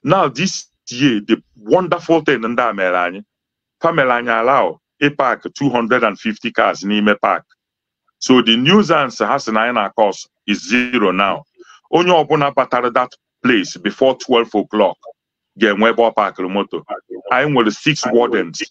now this year the wonderful thing ndị a mere anyị fa mere anyị allow ịpak 250 cars n'ime park so the nuisance ha sị na anyị na-acause is zero now onye ọbụla batara that place before 12 o'clock ga-enwe ebe ọ pakịrị moto anyị nwere six wardens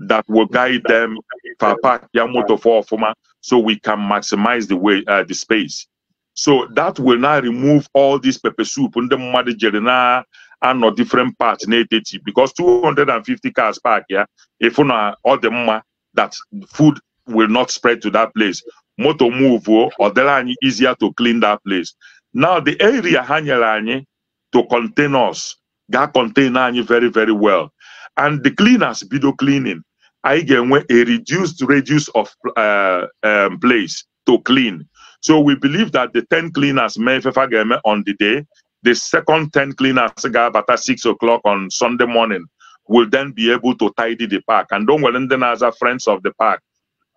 that will guide them fa parkia moto fa ọfụma so we can maximize the way uh, the space so that will now remove all this pepper soup ndị mmadụ jere na-anọ different parts na-eteti because 250 cars parkia ị fụ na ọ dị mma that food will not spread to that place moto movuo ọ dịrị anyị easier to clean that place now the area ha nyere anyị to contain us ga-acontain anyị very very well and the cleaners bido cleaning anyị ga-enwe a reduced radius of uh, um, place to clean. So we believe that the 10 cleaners mee ife fa ga-eme on the day, the second 10 cleaners ga-abata 6 o'clock on Sunday morning will then be able to tidy the park. And o nwere ndị na-aza friends of the park.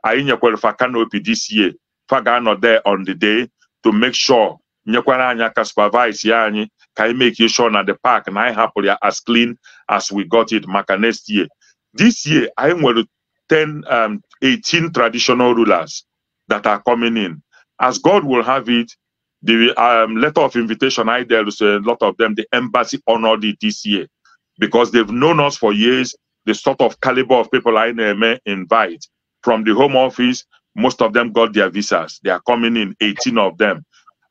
Anyị nyekwara fa canopy this year. Fa ga-anọ there on the day to make sure nyekwara anyị aka supervise ya anyị ka anyị make sure na the park na anyị hapụrụ ya as clean as we got it maka next year this year anyị nwere 10, um, 18 traditional rulers that are coming in. As God will have it, the um, letter of invitation I dealt with a lot of them, the embassy honored it this year because they've known us for years, the sort of caliber of people I may invite from the home office. Most of them got their visas. They are coming in, 18 of them.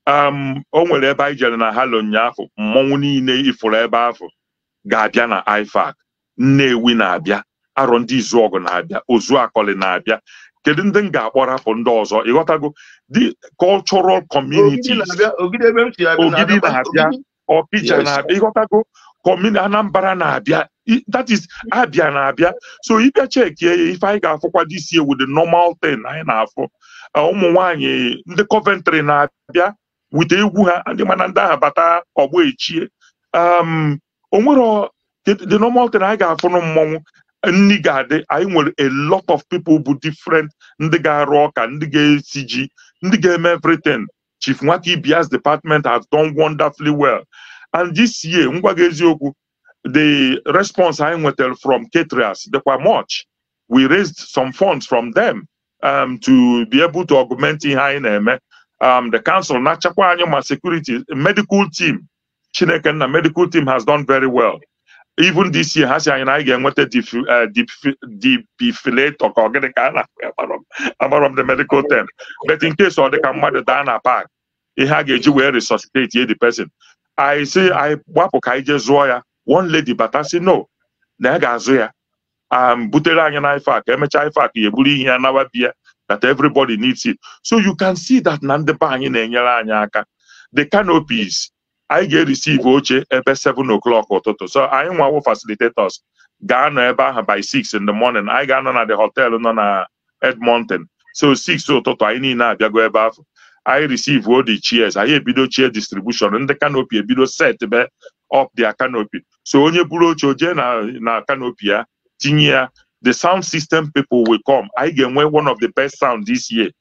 Um, o nwere ebe anyị jere na halo ụnyaahụ mmọnwụ niile ifuru ebe ahụ ga-abịa na IFAC Nnewi na-abịa Arọndizuọgụ na-abịa Ozuakọlị na-abịa kedu ndị m ga-akpọ rapụ ndị ọzọ ị ghọtago the cultural communities Ogidi na-abịa Ọkịja na-abịa ị ghọtago kọmini Anambra na-abịa that is Abia na-abịa so ị bịa checkie ya ife anyị ga-afụkwa this year wụ the normal thing anyị na-afụ ụmụ nwanyị ndị Coventry na-abịa wete egwu ha ị ma na ndị ahụ bata ọgbọ echie um, o nwere the normal thing anyị ga-afụ na mmọnwụ nri ga-adị anyị nwere a lot of people bụ different ndị ga-arụ ọka ndị ga-esi ji ndị ga-eme everything Chief Nwakaibeya's department has done wonderfully well and this year m gwa gị eziokwu the response anyị nwetara from caterers dịkwa much we raised some funds from them um, to be able to augment ihe anyị na-eme um, the council na-achargekwa anyị ma security medical team Chineke nna medical team has done very well even this year ha sị anyị na anyị ga-enweta defibrillator ka ọ gịnị ka a na amarọ m the medical term but in case ọ dị ka mmadụ daa na park ihe a ga-eji wee resuscitatie the person anyị sị anyị gbapụ ka anyị jee zụọ ya one lady bata sị no na ya ga-azụ ya um, butere anyị na ife a ka e mechaa ife a ka ya eburu ihe ya nawa being that everybody needs it so you can see that na ndị be anyị na-enyere anyị aka the canopies anyị ga-ereceive oche ebe 7 o'clock ụtụtụ so anyị nwa wụ facilitators ga-anọ ebe ahụ by 6 in the morning anyị ga-anọ na the hotel nọ na Edmonton so 6 ụtụtụ anyị niile abịago ebe afụ anyị receive all the chairs anyị ebido chair distribution ndị canopy ebido setibe up their canopy so onye buru oche o jee na na canopy ya tinye ya the sound system people will come anyị ga-enwe one of the best sound this year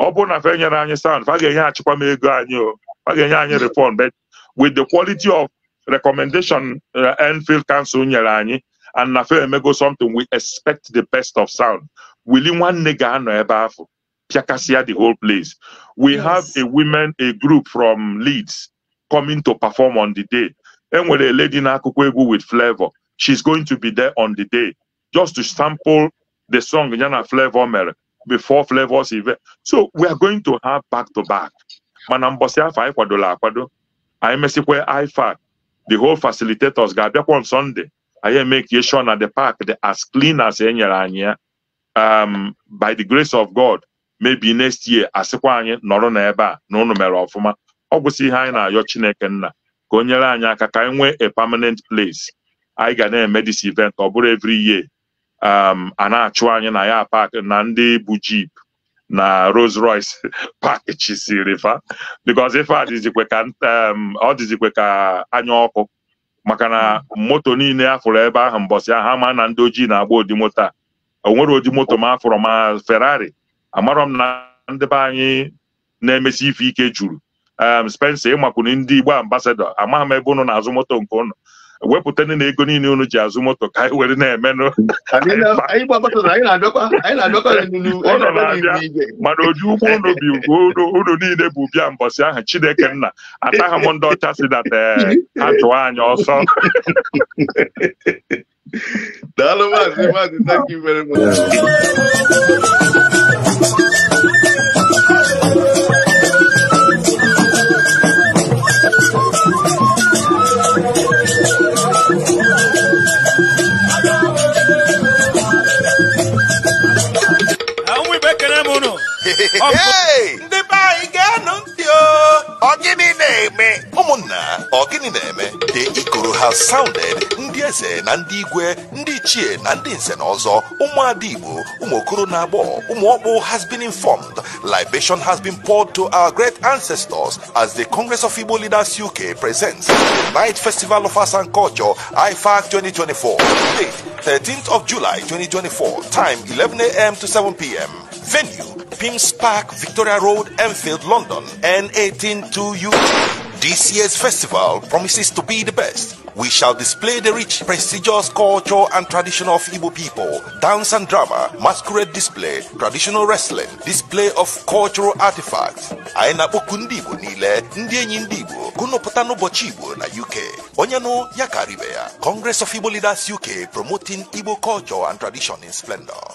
ọ bụrụ na fa enyerọ anyị sound fa ga-enyeachikwa m ego anyị o fa ga-enye anyị refund but with the quality of recommendation uh, Enfield Council nyere anyị and na fa emego something we expect the best of sound Willy nwanne ga-anọ ebe afụ pịakasịa the whole place we yes. have a women a group from Leeds coming to perform on the day e nwere a lady na-akụkọ egwu with Flavour she's going to be there on the day just to sample the song ya na Flavour mere before Flavour's event. So we are going to have back to back. Mana mbọsị afụ anyị kwadola akwado anyị mesịkwa IFAC the whole facilitators ga-abịakwa on Sunday anyị emekie sure na the park dị as clean as e nyere anyị ya um, by the grace of God maybe next year a sịkwa anyị nọrọ na ebe a na ụnụ mere ọfụma ọ gwụsị ihe anyị na-ayọ chineke nna ka o nyere anyị aka ka anyị nwee a permanent place anyị ga na-eme this event ọ bụrụ every year um, a na-achụ anyị na ya park na ndị bụ jeep na Rolls Royce parkchisiri fa because ife a dịzikwe ka um, ọ dịzikwe ka anya ọkụ maka na moto niile a fụrụ ebe ahụ mbọsị ahụ ama na ndị ojii na-agba ụdị moto a o nwerọ ụdị moto m afụrọ ma Ferrari amarọ m na ndị be anyị na-emesi ife ike juru em Spencer ị makwuru ndị Igbo ambassador amaghị m ebe unu na-azụ moto nke unu wepụta ndị na ego niile unu ji azụ moto ka anyị were na-emenụ Anyị na- anyị gbakọtara na anyị na-abịakwa anyị na-abịakwa n'elu- anyị Ụlọ na-abịa na-abịa. n'igwe. mana oji ụgbọ unu bi ugwu unu- unu niile bụ bịa mbọsị ahụ Chineke nna ataghị m ndị ọcha sị that eh, ha chụọ anyị ọsọ daalụ maazị maazị thank you very much Ọ gịnị na-eme? Ụmụnna, ọ gịnị na-eme? The Ikoro has sounded ndị eze na ndị igwe, ndị ichie na ndị nze na ọzọ, ụmụada Igbo, ụmụ okoro na agbọ, ụmụ ọkpụ has been informed. Libation has been poured to our great ancestors as the Congress of Igbo Leaders UK presents the 9th Festival of Arts and Culture, IFAC 2024. Date 13th of July 2024, time 11 a.m. to 7 p.m. Venue, Pymmes Park, Victoria Road, Enfield, London, N18 2UG. This year's festival promises to be the best. We shall display the rich, prestigious culture and tradition of Igbo people, dance and drama, masquerade display, traditional wrestling, display of cultural artifacts. Anyị na-akpọku ndị Igbo niile, ndị enyi ndị Igbo, ka unu pụta n'ụbọchị Igbo na UK. Onye nụ ya kaara ibe ya. Congress of Igbo Leaders UK promoting Igbo culture and tradition in splendor.